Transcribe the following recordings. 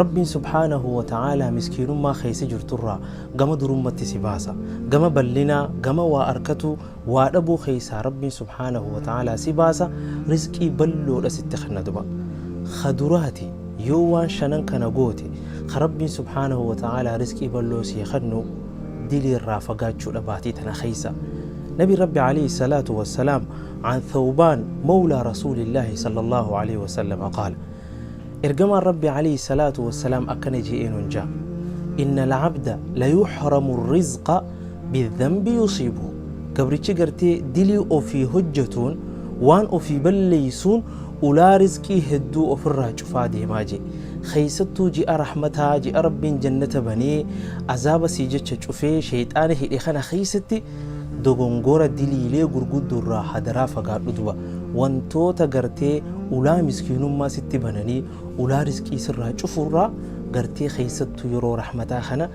Rabbiin subhaanahu wa ta'aalaa miskiinummaa keessa jirturraa gama durummatti si baasa. Gama ballinaa, gama waa arkatuu, waa dhabuu keessaa Rabbiin subhaanahu wa ta'aalaa si baasa, rizqii balloodha sitti kenna duba. Ka duraati yoo waan shanan kana goote ka Rabbiin subhaanahu wa ta'aalaa rizqii balloo sii kennu diliirraa fagaachuudha baatii tana keessa. Nabiin Rabbi alayhi salaatu wassalaam an Thawbaan mawlaa Rasuulillaahi sallallahu alayhi wa sallam qaala. Ergamaan Rabbii Aleyhi salaatu wassalaam akkana je'ee nun ja, Inna la'abda layuhramu rizqa bidhanbi yusiibuhu Gabrichi gartee dilii ofii hojjatuun waan ofii balleeysuun ulaa rizqii hedduu ofirraa cufaa deemaa je'e. Kheeysattuu ji'a rahmataa, ji'a Rabbiin jannata banee azaaba sii jecha cufee sheyxaana hidhe kana kheeysatti Dogongora diliilee gurguddo irraa hadaraa fagaadhu duba wantoota gartee ulaa miskiinummaa sitti bananii ulaa risqii sirraa cufu irraa gartee keessattuu yeroo rahmataa kana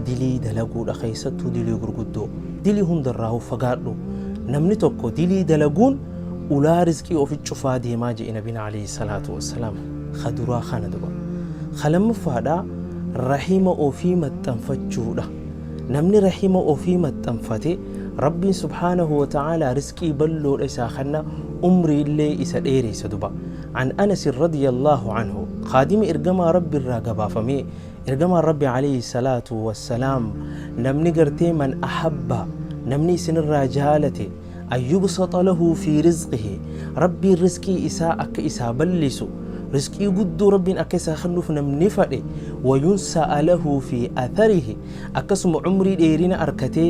dilii dalaguudha keessattuu dilii gurguddoo dilii hunda irraa fagaadhu namni tokko dilii dalaguun ulaa risqii ofi cufaa deemaa je'e nabiin alayhi salaatu wassalaam ka duraa kana duba ka lammaffaadha rahima ofii maxxanfachuudha Namni rahima ofii maxxanfate Rabbiin subhaanahu wa ta'aalaa risqii balloodha isaa kanna umrii illee isa dheereysa duba. An Anas radiyallaahu anhu khaadimi ergamaa Rabbi irraa gabaafamee ergamaan Rabbi alayhi salaatu wassalaam namni gartee man ahabba namni isinirraa jaalate an yubsata lahu fi rizqihi rabbiin rizqii isaa akka isaa ballisu rizqii guddoo rabbiin akka isaa kennuuf namni fadhe wayunsa'a lahu fi atharihi akkasuma umrii dheerina arkatee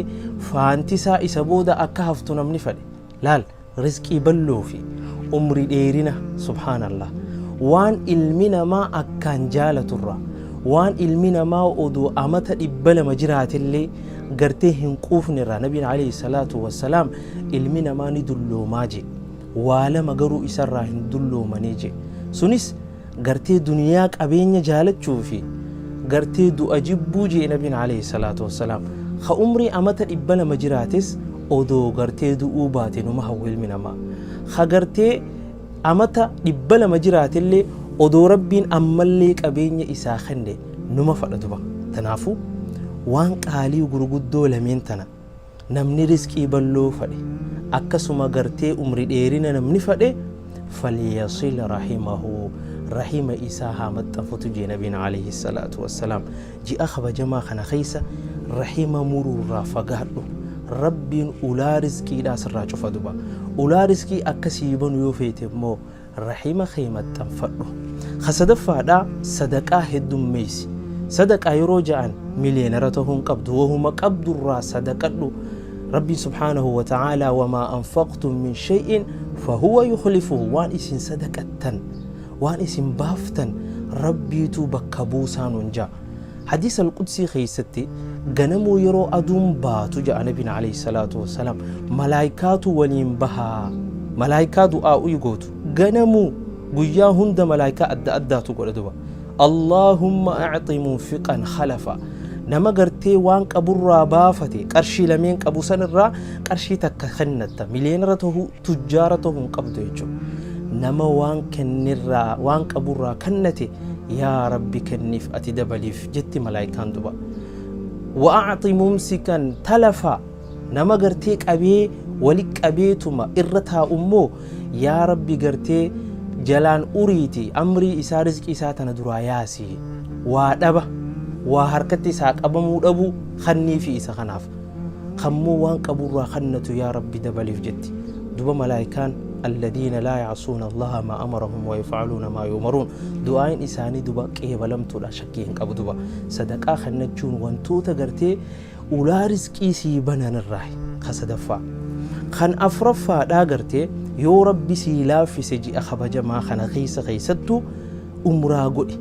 faantisaa isa booda akka haftu namni fadhe laal rizqii balloo fi umrii dheerina subhaanallah waan ilmi namaa akkaan jaalaturra waan ilmi namaa odoo amata dhibba lama jiraatillee gartee hin quufne irraa nabiin alayhi salaatu wassalaam ilmi namaa ni dulloomaa jee waa lama garuu isarraa hin dulloomane jee sunis gartee duniyaa qabeenya jaalachuu fi gartee du'a jibbuu jee nabiin alayhi salaatu wassalaam ka umrii amata dhibba lama jiraates odoo gartee du'uu baate numa hawwa ilmi namaa ka gartee Amata dhibba lama jiraatellee odoo Rabbiin ammallee qabeenya isaa kenne numa fadha duba. Tanaafu waan qaalii gurguddoo lameen tana namni rizqii balloo fadhe akkasuma gartee umri dheerina namni fadhe falyasil rahimahu rahima isaa haa maxxanfatu jee nabiin aleyhi salaatu wassalaam. Ji'a kabajamaa kana keessa rahima muruurraa fagaadhu. Rabbiin ulaa rizqiidhaa sirraa cufa duba. Ulaa rizqii akka sii banu yoo feete immoo rahima kee maxxanfadhu. Ka sadaffaadhaa sadaqaa heddummeessi. Sadaqaa yeroo ja'an miliyeenara ta'uu hin qabdu. Wahuma qabdurraa sadaqadhu. Rabbiin subhaanahu wa ta'aalaa wamaa anfaqtum min shay'in fahuwa yukhlifuhu waan isin sadaqattan waan isin baaftan Rabbiitu bakka buusaa nuun ja'a. Hadiis al-Qudsii keessatti ganamuu yeroo aduun baatu ja'a Nabiin alayhi salaatu wassalaam malaayikaatu waliin bahaa. Malaayikaa du'aa uyi gootu. Ganamuu guyyaa hunda malaayikaa adda addaatu godha duba. Allaahumma a'xi munfiqan khalafa. Nama gartee waan qaburraa baafate qarshii lameen qabu sanirraa qarshii takka kennatta. Miliyoonara tahuu Tujjaara ta'uu hin qabdu jechuudha. Nama waan kennerraa, waan qaburraa kennate, yaa Rabbi kenniif ati dabaliif jetti malaayikaan duba. Wa'aati mumsikan talafa nama gartee qabee wali qabeetuma irra taa'u immoo yaa Rabbi gartee jalaan uriiti amrii isaa rizqii isaa tana duraa yaasi. Waa dhaba, waa harkatti isaa qabamuu dhabu kanniifi isa kanaaf. kammoo waan qaburraa kannatu yaa rabbi dabaliif jetti duba malaayikaan alladhiina laa yacsuuna allaha maa amarahum wayafcaluuna maa yuumaruun du'aayin isaanii duba qeebalamtuudha shakkii hin qabu duba sadaqaa kannachuun wantoota gartee ulaa risqii sii bananirraa ka sadaffaa kan afraffaadhaa gartee yoo rabbi sii laaffise ji'a kabajamaa kana keessa keessattu umraa godhi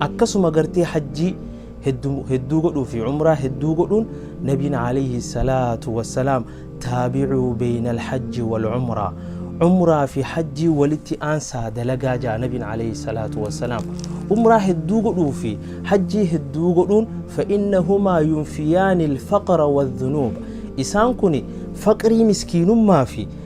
akkasuma gartee hajjii hedduu godhuu fi umraa hedduu godhuun nabiin alayhi salaatu wassalaam taabicuu beeyna alhajji wal umraa umraa fi hajjii walitti aansaa dalagaa jaa nabiin alayhi salaatu wassalaam umraa hedduu godhuu fi hajjii hedduu godhuun fa'innahumaa yunfiyaani alfaqra wadhunuuba isaan kun faqrii miskiinummaa fi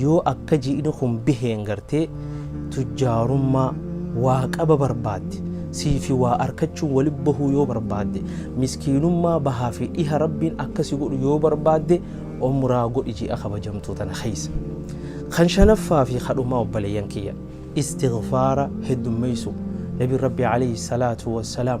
Yoo akka ji'ni kun biheen gartee tujjaarummaa waa qaba barbaadde, siifi waa arkachuun wali bahuu yoo barbaadde, miskiinummaa bahaa fi dhiha Rabbiin akka si godhu yoo barbaadde umraa godhi ji'a kabajamtuu tana keessa. Kan shanaffaa fi ka dhumaa obboleeyyan kiyya, istighfaara heddummeeysuu. Nabiin Rabbii aleyhi salaatu wassalaam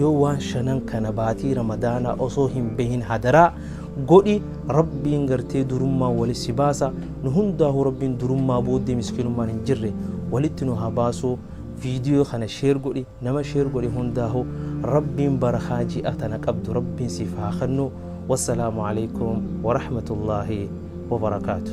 Yoo waan shanan kana baatii ramadaanaa osoo hin behin hadaraa godhi rabbiin gartee durummaan wali si baasa nu hundaahuu rabbiin durummaa booddee miskinummaan hin jirre walitti nu haa baasuu viidiyoo kana sheer godhi nama sheer godhi hundaahuu rabbiin barakaa ji'a tana qabdu rabbiin siif haa kennu wassalaamu alaikum warahmatullaahi wabarakaatu